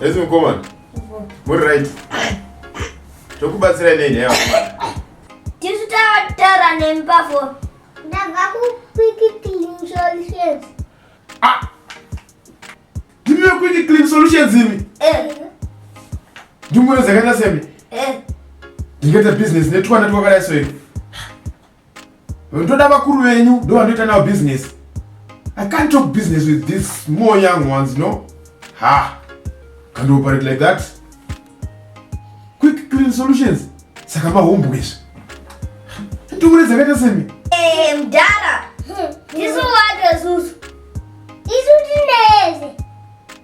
Esi mukomana. Muri right. Tokubatsira nei nyaya yakomana? Tisu tataura nemi pafoni. Ndava kuquick clean solutions. Ah. Ndimi quick clean solutions imi? Eh. Ndimwe zakaita semi? Eh. Ndingeta business netwana twakadai so imi. ndoda vakuru venyu ndo vandoita navo business i can't talk business with these small young ones no ha can't operate like that quick clean solutions saka mahombo izvi ndure dzakaita semi eh, mdara hmm, hmm. ndisu watozuzu isu tineze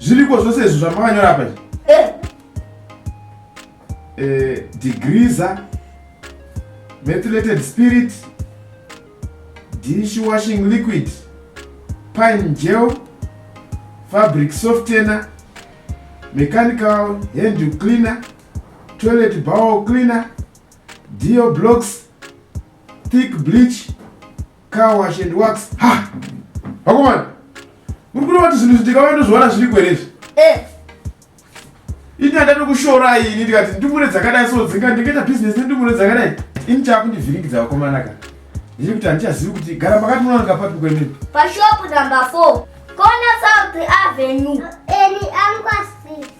zviriko zvose izvo zvamakanyora apa eh. eh, degreesa methylated spirit dish washing liquid pine gel fabric softener mechanical hand cleaner toilet bowel cleaner dio blocks thick bleach Car wash and works. Ha! Vakomana, muri kuona kuti zvinhu zvindikauya ndozviona zviri kwerezvi? Eh. Ini handadi kushora ini ndikati ndumure dzakadai so dzinga ndingaita business nendumure dzakadai. Ini chakundivhiringidza vakomana kana. Ndiri kuti handichazivi kuti gara makati munowanika papi kwemene. Pashop number 4. Kona South Avenue. Eni angwasi.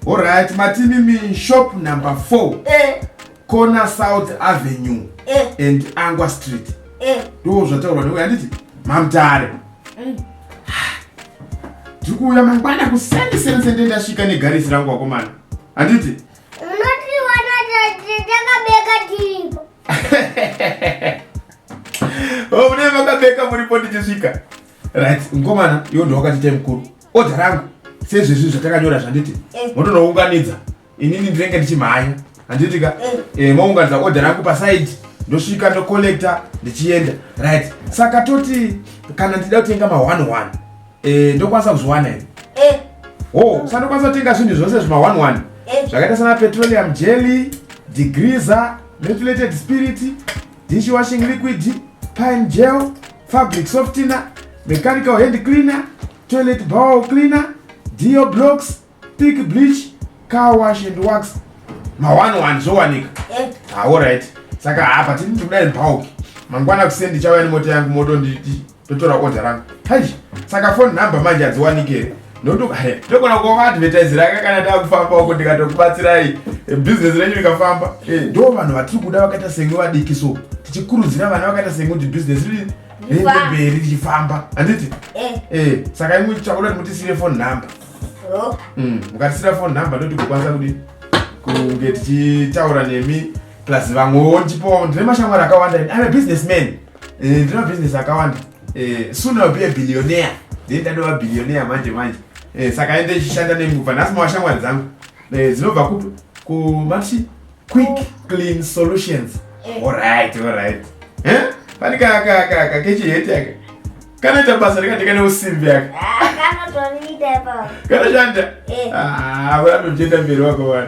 Alright, Matinimi shop number 4. Eh. Corner South Avenue eh. and Angwa Street. Eh. Ndoo zvataurwa newe handiti? Mamtare. Mm. Ndikuuya mangwana kuseni seni sende ndasvika negarisi rangu wakomana. Handiti? Unoti wana takabeka tiripo. Oh, mune makabeka muripo ndichisvika. Right, mkomana, yondo wakati time kuru. Order rangu sezvezvi zvatakanyora zvanditi eh. motonounganidza inini ndinenge ndichimhanya handiti ka eh. eh, mounganidza order rangu paside ndosvika ndocollecta ndichienda right saka toti kana ndida kutenga ma one one eh, ndokwanisa kuzviwana here eh. ho oh, sandokwanisa kutenga zvinhu zvose zvima one one eh. zvakaita sana petroleum jelly degreaser metulated spirit dishwashing liquid, pine gel, fabric softener, mechanical hand cleaner, toilet bowl cleaner, dio blocks, thick bleach, car wash and wax. Ma one one zvowanika. Eh. Ah, all right. Saka hapa tini ndikuda in bulk. Mangwana kuseni ndichauya nemota yangu moto nditi ndotora order rangu hai saka phone number manje hadziwaniki here ndogona kuoma advertise rake kana takufamba uko ndikatokubatsirai eh, business renyu rikafamba eh, ndo vanhu vatiri kuda vakaita semwe vadiki so tichikurudzira vana vakaita semwe kuti business rimberi richifamba handiti eh. saka imwe chakuda kuti mutisire phone number oh. mm, mukatisira phone number ndoti kukwanisa kuti kunge tichitaura nemi plus vamwewo ndichipoa ndine mashamwari akawanda ane business man Eh, ndina business akawanda eh, soon I'll be a billionaire then ndadova billionaire manje manje eh, saka ende ichishanda nenguva nhasi mawashamwari dzangu eh, dzinobva kupi kumati quick clean solutions eh. alright alright eh? pani kakechiheti aka kanoita basa rikati kane usimbi aka ah, kanoshanda eh. ah, vanotoenda mberi wako vana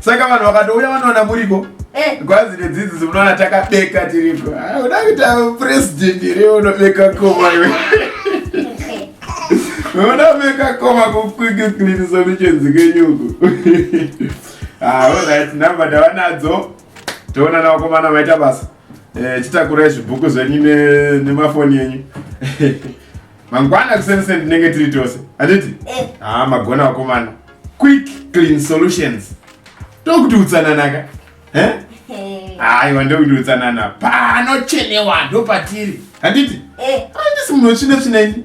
Saka vanhu vakatouya vanoona muripo eh. gwazi redzidziso munoona takabeka tiripo ah, uda kuita president here unobeka koma iwe unobeka koma kukwikiklinisa michenzi kenyuku aorit ah, number ndavanadzo toona navakomana maita basa eh, chitakurai zvibhuku zvenyu nemafoni enyu mangwana kuseni seni tinenge tiri tose handiti eh. haa magona vakomana quick clean solutions ndokuti utsananaka eh? aiwa ndokuti utsanana panochenewa ndo patiri handiti eh. handisi munhu wetsvina tsvina ini